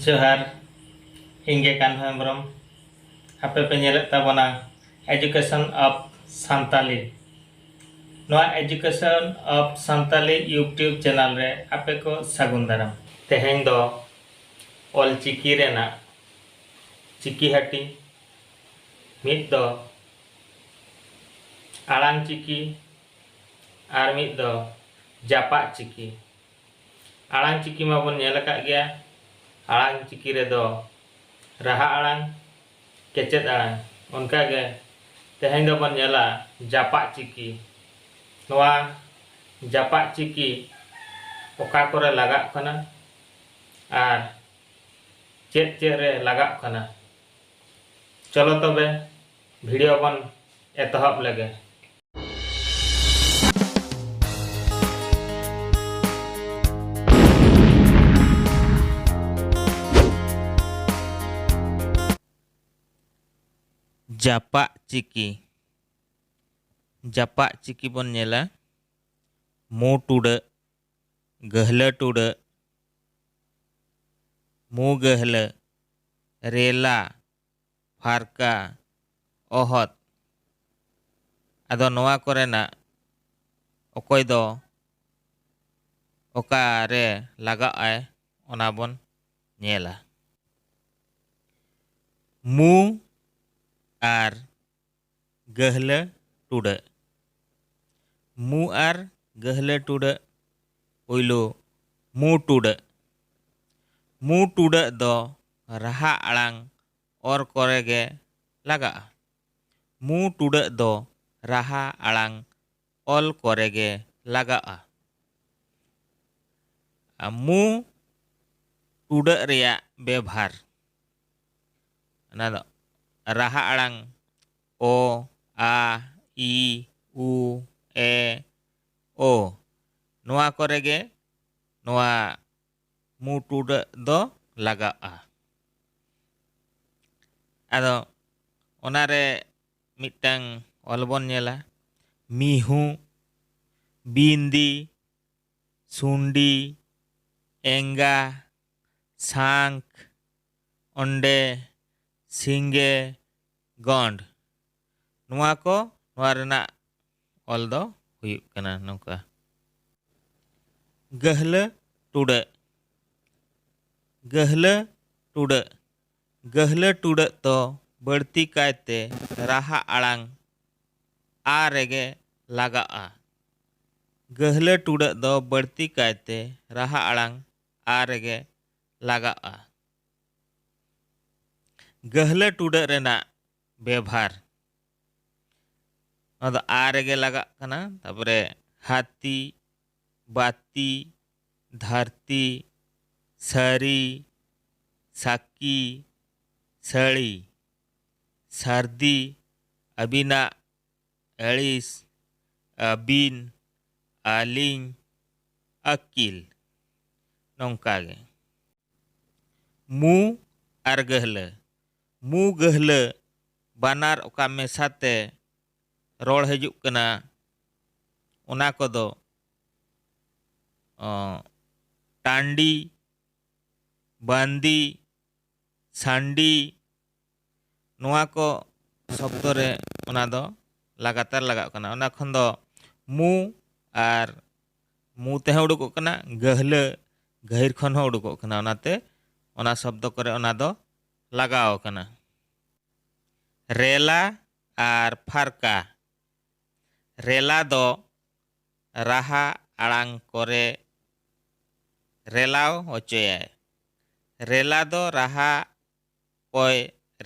ᱡᱚᱦᱟᱨ ᱤᱧ ᱜᱮ ᱠᱟᱱᱦᱩ ᱦᱮᱢᱵᱨᱚᱢ ᱟᱯᱮ ᱯᱮ ᱧᱮᱞᱮᱫ ᱛᱟᱵᱚᱱᱟ ᱮᱡᱩᱠᱮᱥᱚᱱ ᱚᱯᱷ ᱥᱟᱱᱛᱟᱞᱤ ᱱᱚᱣᱟ education of Santali YouTube channel ᱨᱮ ᱟᱯᱮ ᱠᱚ ᱥᱟᱹᱜᱩᱱ ᱫᱟᱨᱟᱢ ᱛᱮᱦᱮᱧ ᱫᱚ ᱚᱞ ᱪᱤᱠᱤ ᱨᱮᱱᱟᱜ ᱪᱤᱠᱤ ᱦᱟᱹᱴᱤ ᱢᱤᱫ ᱫᱚ ᱟᱲᱟᱝ ᱪᱤᱠᱤ ᱟᱨ ᱢᱤᱫ ᱫᱚ ᱡᱟᱯᱟᱜ ᱪᱤᱠᱤ ᱟᱲᱟᱝ ᱪᱤᱠᱤ ᱢᱟ ᱵᱚᱱ ᱧᱮᱞ ᱟᱠᱟᱫ ᱜᱮᱭᱟ ᱟᱲᱟᱝ ᱪᱤᱠᱤ ᱨᱮ ᱫᱚ ᱨᱟᱦᱟ ᱟᱲᱟᱝ ᱠᱮᱪᱮᱫ ᱟᱲᱟᱝ ᱚᱱᱠᱟ ᱜᱮ ᱛᱮᱦᱮᱧ ᱫᱚ ᱵᱚᱱ ᱧᱮᱞᱟ ᱡᱟᱯᱟᱜ ᱪᱤᱠᱤ ᱱᱚᱣᱟ ᱡᱟᱯᱟᱜ ᱪᱤᱠᱤ ᱚᱠᱟ ᱠᱚᱨᱮ ᱞᱟᱜᱟᱜ ᱠᱟᱱᱟ ᱟᱨ ᱪᱮᱫ ᱪᱮᱫ ᱨᱮ ᱞᱟᱜᱟᱜ ᱠᱟᱱᱟ ᱪᱚᱞᱚ ᱛᱚᱵᱮ ᱵᱷᱤᱰᱤᱭᱳ ᱵᱚᱱ ᱮᱛᱚᱦᱚᱵ ᱞᱮᱜᱮ ᱡᱟᱯᱟᱜ ᱪᱤᱠᱤ ᱡᱟᱯᱟᱜ ᱪᱤᱠᱤ ᱵᱚᱱ ᱧᱮᱞᱟ ᱢᱩ ᱴᱩᱰᱟᱹᱜ ᱜᱟᱹᱦᱞᱟᱹ ᱴᱩᱰᱟᱹᱜ ᱢᱩ ᱜᱟᱹᱦᱞᱟᱹ ᱨᱮᱞᱟ ᱯᱷᱟᱨᱠᱟ ᱚᱦᱚᱫ ᱟᱫᱚ ᱱᱚᱣᱟ ᱠᱚᱨᱮᱱᱟᱜ ᱚᱠᱚᱭ ᱫᱚ ᱚᱠᱟ ᱨᱮ ᱞᱟᱜᱟᱜ ᱟᱭ ᱚᱱᱟ ᱵᱚᱱ ᱧᱮᱞᱟ᱾ ᱢᱩ ᱟᱨ ᱜᱟᱹᱦᱞᱟᱹ ᱴᱩᱰᱟᱹᱜ ᱢᱩ ᱟᱨ ᱜᱟᱹᱦᱞᱟᱹ ᱴᱩᱰᱟᱹᱜ ᱯᱩᱭᱞᱩ ᱢᱩ ᱴᱩᱰᱟᱹᱜ ᱢᱩ ᱴᱩᱰᱟᱹᱜ ᱫᱚ ᱨᱟᱦᱟ ᱟᱲᱟᱝ ᱚᱨ ᱠᱚᱨᱮ ᱜᱮ ᱞᱟᱜᱟᱜᱼᱟ ᱢᱩ ᱴᱩᱰᱟᱹᱜ ᱫᱚ ᱨᱟᱦᱟ ᱟᱲᱟᱝ ᱚᱞ ᱠᱚᱨᱮ ᱜᱮ ᱞᱟᱜᱟᱜᱼᱟ᱾ ᱢᱩ ᱴᱩᱰᱟᱹᱜ ᱨᱮᱭᱟᱜ ᱵᱮᱵᱷᱟᱨ ᱚᱱᱟ ᱫᱚ ᱨᱟᱦᱟ ᱟᱲᱟᱝ ᱚ, ᱟ, ᱤ, ᱩ, ᱮ, ᱳ ᱱᱚᱣᱟ ᱠᱚᱨᱮ ᱜᱮ ᱱᱚᱣᱟ ᱢᱩ ᱴᱩᱰᱟᱹᱜ ᱫᱚ ᱞᱟᱜᱟᱜᱼᱟ᱾ ᱟᱫᱚ ᱚᱱᱟ ᱨᱮ ᱢᱤᱫᱴᱟᱝ ᱚᱞ ᱵᱚᱱ ᱧᱮᱞᱟ ᱢᱤᱦᱩ ᱵᱤᱱᱫᱤ ᱥᱩᱱᱰᱤ ᱮᱸᱜᱟ ᱥᱟᱝᱠ ᱚᱸᱰᱮ ᱥᱤᱸᱜᱮ ᱜᱚᱸᱰ ᱱᱚᱣᱟ ᱠᱚ ᱱᱚᱣᱟ ᱨᱮᱱᱟᱜ ᱚᱞ ᱫᱚ ᱦᱩᱭᱩᱜ ᱠᱟᱱᱟ ᱱᱚᱝᱠᱟ ᱜᱟᱹᱦᱞᱟᱹ ᱴᱩᱰᱟᱹᱜ ᱜᱟᱹᱦᱞᱟᱹ ᱴᱩᱰᱟᱹᱜ ᱜᱟᱹᱦᱞᱟᱹ ᱴᱩᱰᱟᱹᱜ ᱫᱚ ᱵᱟᱹᱲᱛᱤ ᱠᱟᱭ ᱛᱮ ᱨᱟᱦᱟ ᱟᱲᱟᱝ ᱟ ᱨᱮᱜᱮ ᱞᱟᱜᱟᱜᱼᱟ᱾ ᱜᱟᱹᱦᱞᱟᱹ ᱴᱩᱰᱟᱹᱜ ᱫᱚ ᱵᱟᱹᱲᱛᱤ ᱠᱟᱭ ᱛᱮ ᱨᱟᱦᱟ ᱟᱲᱟᱝ ᱟ ᱨᱮᱜᱮ ᱞᱟᱜᱟᱜᱼᱟ᱾ ᱜᱟᱹᱦᱞᱟᱹ ᱴᱩᱰᱟᱹᱜ ᱨᱮᱱᱟᱜ ᱵᱮᱵᱷᱟᱨ᱾ ᱱᱚᱣᱟ ᱫᱚ ᱟ ᱨᱮᱜᱮ ᱞᱟᱜᱟᱜ ᱠᱟᱱᱟ᱾ ᱛᱟᱯᱚᱨᱮ ᱦᱟᱹᱛᱤ, ᱵᱟᱹᱛᱤ, ᱫᱷᱟᱹᱨᱛᱤ, ᱥᱟᱹᱨᱤ, ᱥᱟᱹᱠᱤ, ᱥᱟᱹᱲᱤ᱾ ᱥᱟᱹᱨᱫᱤ ᱟᱹᱵᱤᱱᱟᱜ ᱟᱹᱲᱤᱥ, ᱟᱹᱵᱤᱱ, ᱟᱹᱞᱤᱧ, ᱟᱹᱠᱤᱞ᱾ ᱱᱚᱝᱠᱟ ᱜᱮ᱾ ᱢᱩ ᱟᱨ ᱜᱟᱹᱦᱞᱟᱹ, ᱢᱩ ᱜᱟᱹᱦᱞᱟᱹ ᱵᱟᱱᱟᱨ ᱚᱠᱟ ᱢᱮᱥᱟ ᱛᱮ ᱨᱚᱲ ᱦᱤᱡᱩᱜ ᱠᱟᱱᱟ ᱚᱱᱟ ᱠᱚᱫᱚ ᱴᱟᱺᱰᱤ ᱵᱟᱺᱫᱤ ᱥᱟᱺᱰᱤ ᱱᱚᱣᱟ ᱠᱚ ᱥᱚᱵᱫᱚ ᱨᱮ ᱚᱱᱟ ᱫᱚ ᱞᱟᱜᱟᱛᱟᱨ ᱞᱟᱜᱟᱜ ᱠᱟᱱᱟ ᱚᱱᱟ ᱠᱷᱚᱱ ᱫᱚ ᱢᱩ ᱟᱨ ᱢᱩ ᱛᱮᱦᱚᱸ ᱩᱰᱩᱠᱚᱜ ᱠᱟᱱᱟ ᱜᱟᱹᱦᱞᱟᱹ ᱜᱟᱹᱦᱤᱨ ᱠᱷᱚᱱ ᱦᱚᱸ ᱩᱰᱩᱠᱚᱜ ᱠᱟᱱᱟ ᱚᱱᱟᱛᱮ ᱚᱱᱟ ᱥᱚᱵᱫᱚ ᱠᱚᱨᱮ ᱚᱱᱟ ᱫᱚ ᱞᱟᱜᱟᱣ ᱠᱟᱱᱟ ᱨᱮᱞᱟ ᱟᱨ ᱯᱷᱟᱨᱠᱟ ᱨᱮᱞᱟ ᱫᱚ ᱨᱟᱦᱟ ᱟᱲᱟᱝ ᱠᱚᱨᱮ ᱨᱮᱞᱟᱣ ᱦᱚᱪᱚᱭᱟᱭ᱾ ᱨᱮᱞᱟ ᱫᱚ ᱨᱟᱦᱟ ᱠᱚᱭ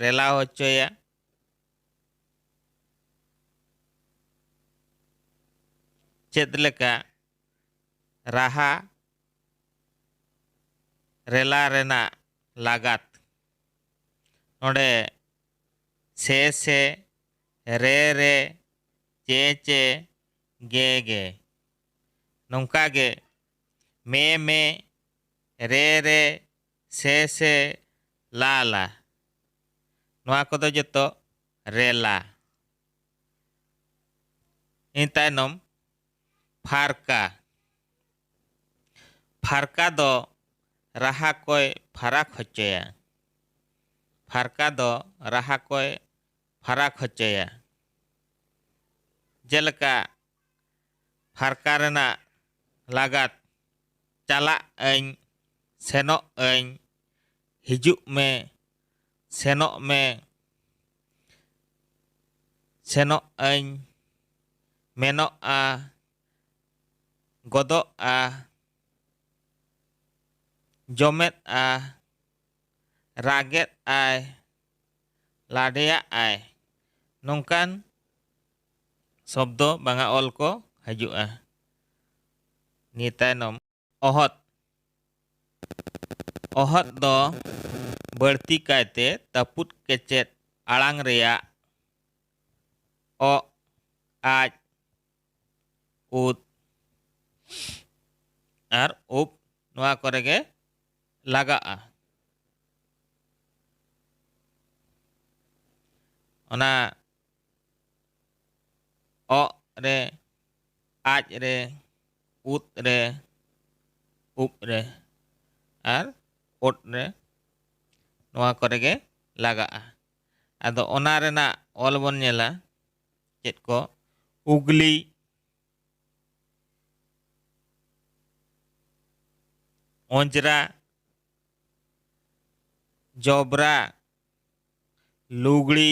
ᱨᱮᱞᱟᱣ ᱦᱚᱪᱚᱭᱟ᱾ ᱪᱮᱫ ᱞᱮᱠᱟ ᱨᱟᱦᱟ ᱨᱮᱞᱟ ᱨᱮᱱᱟᱜ ᱞᱟᱜᱟᱛ᱾ ᱱᱚᱰᱮ ᱥᱮ ᱥᱮ, ᱨᱮ ᱨᱮ, ᱪᱮ ᱪᱮ, ᱜᱮ ᱜᱮ᱾ ᱱᱚᱝᱠᱟ ᱜᱮ ᱢᱮ ᱢᱮ, ᱨᱮ ᱨᱮ, ᱥᱮ ᱥᱮ, ᱞᱟ ᱞᱟ᱾ ᱱᱚᱣᱟ ᱠᱚᱫᱚ ᱡᱚᱛᱚ ᱨᱮᱞᱟ᱾ ᱤᱱᱟᱹ ᱛᱟᱭᱱᱚᱢ ᱯᱷᱟᱨᱠᱟ᱾ ᱯᱷᱟᱨᱠᱟ ᱫᱚ ᱨᱟᱦᱟ ᱠᱚᱭ ᱯᱷᱟᱨᱟᱠ ᱦᱚᱪᱚᱭᱟ᱾ ᱯᱷᱟᱨᱠᱟ ᱫᱚ ᱨᱟᱦᱟ ᱠᱚᱭ ᱯᱷᱟᱨᱟᱠ ᱦᱚᱪᱚᱭᱟ᱾ ᱡᱮᱞᱮᱠᱟ ᱯᱷᱟᱨᱠᱟ ᱨᱮᱱᱟᱜ ᱞᱟᱜᱟᱛ ᱪᱟᱞᱟᱜ ᱟᱹᱧ, ᱥᱮᱱᱚᱜ ᱟᱹᱧ, ᱦᱤᱡᱩᱜ ᱢᱮ, ᱥᱮᱱᱚᱜ ᱢᱮ᱾ ᱥᱮᱱᱚᱜ ᱟᱹᱧ᱾ ᱢᱮᱱᱚᱜᱼᱟ᱾ ᱜᱚᱫᱚᱜᱼᱟ᱾ ᱡᱚᱢᱮᱫᱼᱟ᱾ ᱨᱟᱜᱮᱫ ᱟᱭ᱾ ᱞᱟᱰᱮᱭᱟᱜ ᱟᱭ᱾ ᱱᱚᱝᱠᱟᱱ ᱥᱚᱵᱽᱫᱚ ᱵᱟᱝᱟ ᱚᱞ ᱠᱚ ᱦᱟᱹᱡᱩᱜᱼᱟ᱾ ᱱᱤᱭᱟᱹ ᱛᱟᱭᱱᱚᱢ᱾ ᱚᱦᱚᱫ ᱚᱦᱚᱫ ᱫᱚ ᱵᱟᱹᱲᱛᱤ ᱠᱟᱭᱛᱮ ᱛᱟᱹᱯᱩᱫ ᱠᱮᱪᱮᱫ ᱟᱲᱟᱝ ᱨᱮᱭᱟᱜ ᱚ ᱟᱡ ᱩᱫ ᱟᱨ ᱩᱯ ᱱᱚᱣᱟ ᱠᱚᱨᱮ ᱜᱮ ᱞᱟᱜᱟᱜᱼᱟ ᱚᱱᱟ ᱚᱜ ᱨᱮ ᱟᱡ ᱨᱮ ᱩᱫ ᱨᱮ ᱩᱵ ᱨᱮ ᱟᱨ ᱳᱴ ᱨᱮ ᱱᱚᱣᱟ ᱠᱚᱨᱮ ᱜᱮ ᱞᱟᱜᱟᱜᱼᱟ ᱟᱫᱚ ᱚᱱᱟ ᱨᱮᱱᱟᱜ ᱚᱞ ᱵᱚᱱ ᱧᱮᱞᱟ ᱪᱮᱫ ᱠᱚ ᱩᱜᱽᱞᱤ ᱚᱸᱡᱽᱨᱟ ᱡᱚᱵᱽᱨᱟ ᱞᱩᱜᱽᱲᱤ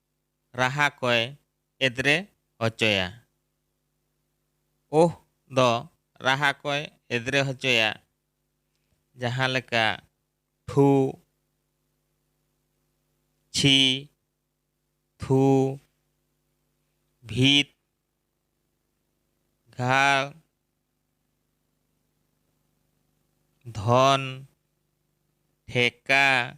ᱨᱟᱦᱟ ᱠᱚᱭ ᱮᱫᱽᱨᱮ ᱦᱚᱪᱚᱭᱟ᱾ ᱳᱦ ᱫᱚ ᱨᱟᱦᱟ ᱠᱚᱭ ᱮᱫᱽᱨᱮ ᱦᱚᱪᱚᱭᱟ ᱡᱟᱦᱟᱸ ᱞᱮᱠᱟ ᱴᱷᱩ, ᱪᱷᱤ, ᱛᱷᱩ, ᱵᱷᱤᱛ, ᱜᱷᱟᱲ, ᱫᱷᱚᱱ, ᱴᱷᱮᱠᱟ᱾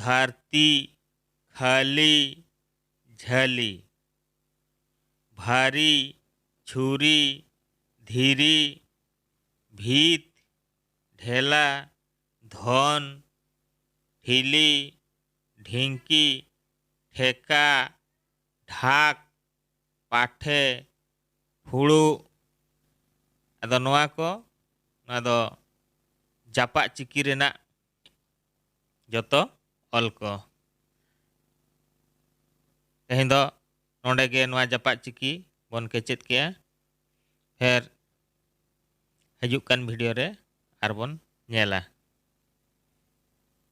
ᱫᱷᱟᱹᱨᱛᱤ ᱠᱷᱟᱹᱞᱤ ᱡᱷᱟᱹᱞᱤ᱾ ᱵᱷᱟᱹᱨᱤ ᱪᱷᱩᱨᱤ ᱫᱷᱤᱨᱤ ᱵᱷᱤᱛ ᱰᱷᱮᱞᱟ ᱫᱷᱚᱱ ᱴᱷᱤᱞᱤ ᱰᱷᱤᱝᱠᱤ ᱴᱷᱮᱠᱟ ᱰᱷᱟᱠ ᱯᱟᱴᱷᱮ ᱯᱷᱩᱲᱩᱜ ᱟᱫᱚ ᱱᱚᱣᱟ ᱠᱚ ᱱᱚᱣᱟ ᱫᱚ ᱡᱟᱯᱟᱜ ᱪᱤᱠᱤ ᱨᱮᱱᱟᱜ ᱡᱚᱛᱚ ᱚᱞ ᱠᱚ ᱛᱮᱦᱮᱧ ᱫᱚ ᱱᱚᱰᱮ ᱜᱮ ᱱᱚᱣᱟ ᱡᱟᱯᱟᱜ ᱪᱤᱠᱤ ᱵᱚᱱ ᱠᱮᱪᱮᱫ ᱠᱮᱜᱼᱟ ᱯᱷᱮᱨ ᱦᱤᱡᱩᱜ ᱠᱟᱱ ᱵᱷᱤᱰᱤᱭᱳ ᱨᱮ ᱟᱨᱵᱚᱱ ᱧᱮᱞᱟ